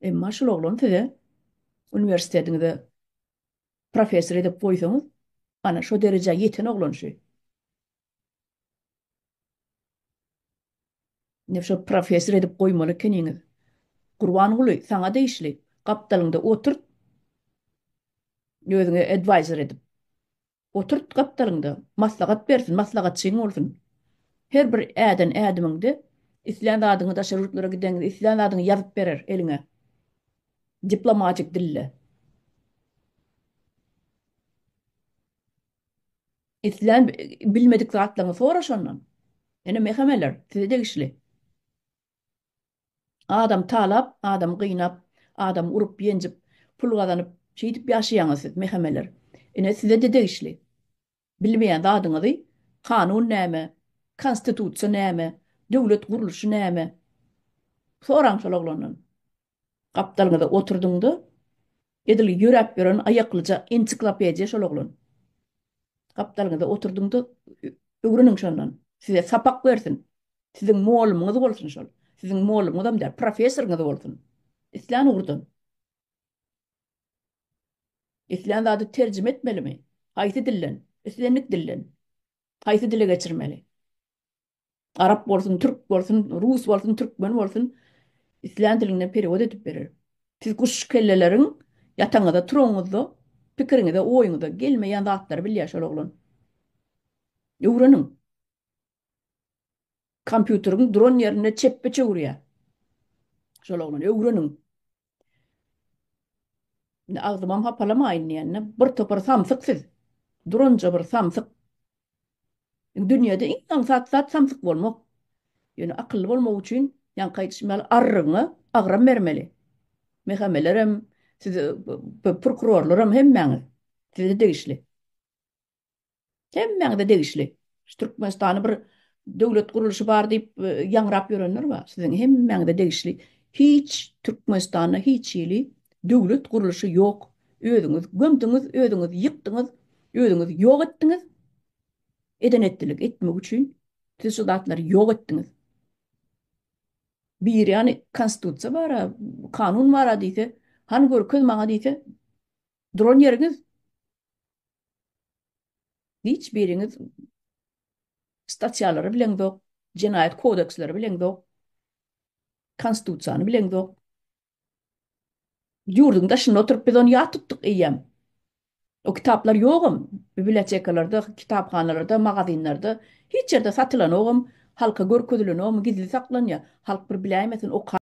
Emma şul oglan size uniwersitetiňize professor edip goýsaňyz, ana şo derejä ýeten oglan şu. Indi şo professor edip goýmaly ekeniňiz. Gurbanguly, saňa degişli, gapdalyňda oturt. Özüňe advisor edip. Oturt gapdalynda, maslahat bersin, maslahatçyň bolsun. Her bir äden ädimiňde islän zadyňy daşary ýurtlara gideňde islän zadyňy ýazyp berer eliňe. Diplomatik dilde. Islän bilmedik zatlaryňy soraş ondan. Ene mehemeler size degişli. Adam talap, adam gynap, adam urup, ýenjip, pul gazanyp, şeýdip ýaşaýaňyz siz, mehemeler. Ine, size-de degişli. Bilmeýän zadyňyzy kanun näme, konstitusiýa näme, döwlet gurluşy näme? Soraň şol oglandan. Gapdalňyza oturdyň-da, Edil ýöräp ýören aýaklyja ensiklopediýa şol oglan. Gapdalyňyza oturdyň-da, öwreniň şondan. Size sapak bersin. Siziň mollumyňyz bolsun şol. Siziň mollumyňyzam däl, professoryňyz bolsun. Islän ugurdan. Islän zady terjime etmelimi? Haýsy dilden? Islendik dilden. Haýsy dile geçirmeli? Arap bolsun, türk bolsun, rus bolsun, türkmen bolsun, islän diliňden perewod edip berer. Siz guş kelleleriň ýatagyňyzda, turagyňyzda, pikiriňize, oýuňyza gelmeýän zatlary bilýär şol oglan. Öwreniň. Kompýuteriň duran ýerinde çepbe çöwürýär şol oglan, öwreniň. Indi agzymam hapalamaýyn diýende, bir topar samsyk siz. Duranja bir samsyk. Dünýede iň aňsat zat samsyk bolmak. Ýöne akylly bolmak üçin, ýaňky aýdyşym ýaly, arrygyňa agram bermeli. Mehemelerem, siz prokurorlaram hemmäňiz size degişli. Hemmäňize degişli. Şu Türkmenistany bir döwlet guruluşy bar diýip e, ýaňrap ýörenler bar. Siziň hemmäňize degişli. Hiç Türkmenistanda hiç hili döwlet guruluşy ýok. Özüňiz gömdüňiz, özüňiz ýykdyňyz, özüňiz ýok etdiňiz. Eden etdilik etmek üçin siz şu zatlary ýok etdiňiz. Bir ýany konstitusiýa bar, kanun bar diýse, han görkez maňa diýse, duran ýeriňiz Hiç biriňiz statiýalary bileňzok, jenaýat kodeksleri bileňzok, konstitusiýany bileňzok. Ýurduň daşynda oturyp biz ony ýat tutduk eýýäm. O kitaplar ýogam, bibliotekalarda, kitaphanalarda, magazinlerde, hiç ýerde satylanogam, halka görkezilenogam, gizli saklanýar. Halk bir biläýmesin, okar.